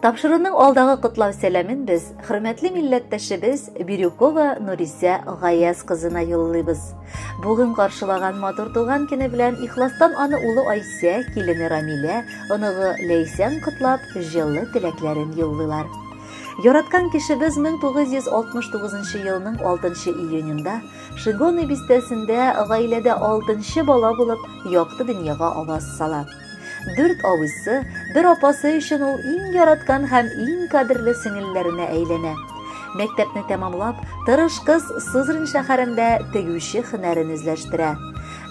Тапшыруның алдагы котлау сәламен без хөрмәтле милләттәшебез Бирюкова Нурисә Гаяз кызына юллыйбыз. Бүген каршылаган матур туган көне белән ихластан аны улы Айсә, килене Рамилә, оныгы Ләйсән котлап, җылы теләкләрен юллыйлар. Яраткан кешебез 1969 елның 6 июнендә Шигоны бистәсендә гаиләдә 6 бала булып, якты дөньяга аваз сала. Дүрт абыйсы, бер апасы өчен ул иң яраткан һәм иң кадерле сеңелләренә әйләнә. Мәктәпне тәмамлап, тырыш кыз Сызрань шәһәрендә тегүче хөнәрен үзләштерә.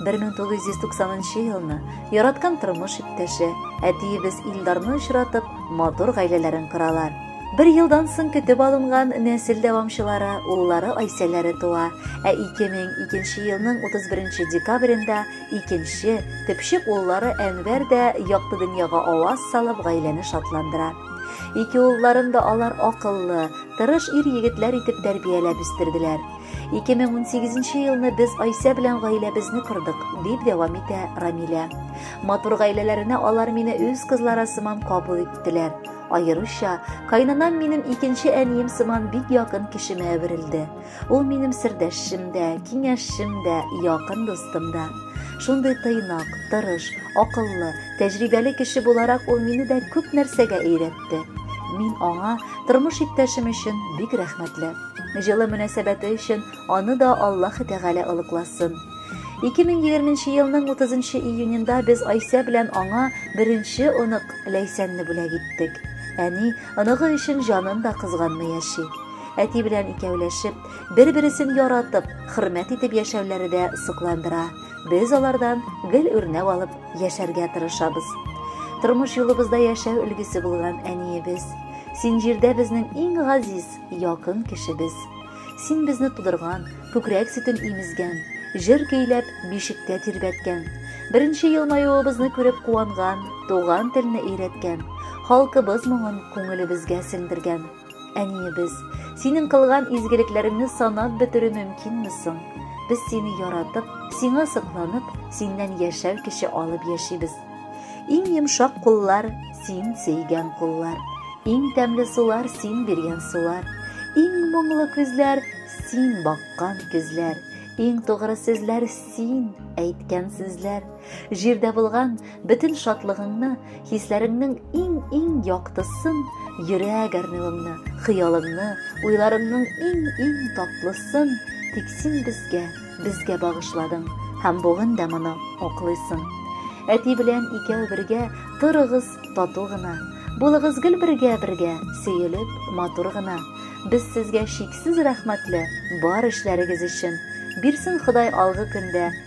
1990 елны яраткан тормыш иптәше, әтиебез Илдарны очратып, матур гаиләләрен коралар. Бер елдан соң көтеп алынган нәсел дәвамчылары, уллары Айсәләре туа, ә 2002 елның 31 декабрендә Икенче, төпчек уллары Әнвәр дә якты дөньяга аваз салып, гаиләне шатландыра. Ике улларын да алар акыллы, тырыш ир-егетләр итеп тәрбияләп үстерделәр. 2018 елны без Айсә белән гаиләбезне кордык, дип дәвам итә Рамилә. Матур гаиләләренә алар мине үз кызлары сыман кабул иттеләр. Аеруча, кайнанам минем икенче әнием сыман бик якын кешемә әверелде. Ул минем сердәшчем дә, киңәшчем дә, якын дустым да. Шундый тыйнак, тырыш, акыллы, тәҗрибәле кеше буларак ул мине дә күп нәрсәгә өйрәтте. Мин аңа тормыш иптәшем өчен бик рәхмәтле. Җылы мөнәсәбәте өчен аны да Аллаһы Тәгалә олыкласын. 2020 елның 30 июнендә без Айсә белән аңа беренче онык Ләйсәнне бүләк иттек. Әни оныгы өчен җанын да кызганмый яши. Әти белән икәүләшеп, бер-бересен яратып, хөрмәт итеп яшәүләре дә сокландыра. Без алардан гел үрнәк алып яшәргә тырышабыз. Тормыш юлыбызда яшәү өлгесе булган әниебез. Син җирдә безнең иң газиз, якын кешебез. Син безне тудырган, күкрәк сөтен имезгән, җыр көйләп, бишектә тирбәткән. Беренче елмаюыбызны күреп куанган, туган телне өйрәткән, халкыбыз моңын күңелебезгә сеңдергән. Әниебез, синең кылган изгелекләреңне санап бетерү мөмкинме соң? Без сине яратып, сиңа сокланып, синнән яшәр кеше алып яшибез. Иң йомшак куллар, син сөйгән куллар. Иң тәмле сулар, син биргән сулар. Иң моңлы күзләр, син баккан күзләр. Иң тугры сүзләр, син әйткән сүзләр. Җирдә булган бөтен шатлыгыңны, хисләреңнең иң-иң яктысын, йөрәк әрнүеңне, хыялыңны, уйларыңның иң-иң татлысын тик син безгә, безгә багышладың һәм бүген дә моны аклыйсың. Әти белән икәү бергә торыгыз тату гына, булыгыз гел бергә-бергә, сөелеп, матур гына. Без сезгә чиксез рәхмәтле бар эшләрегез өчен. Бирсен Ходай алгы көндә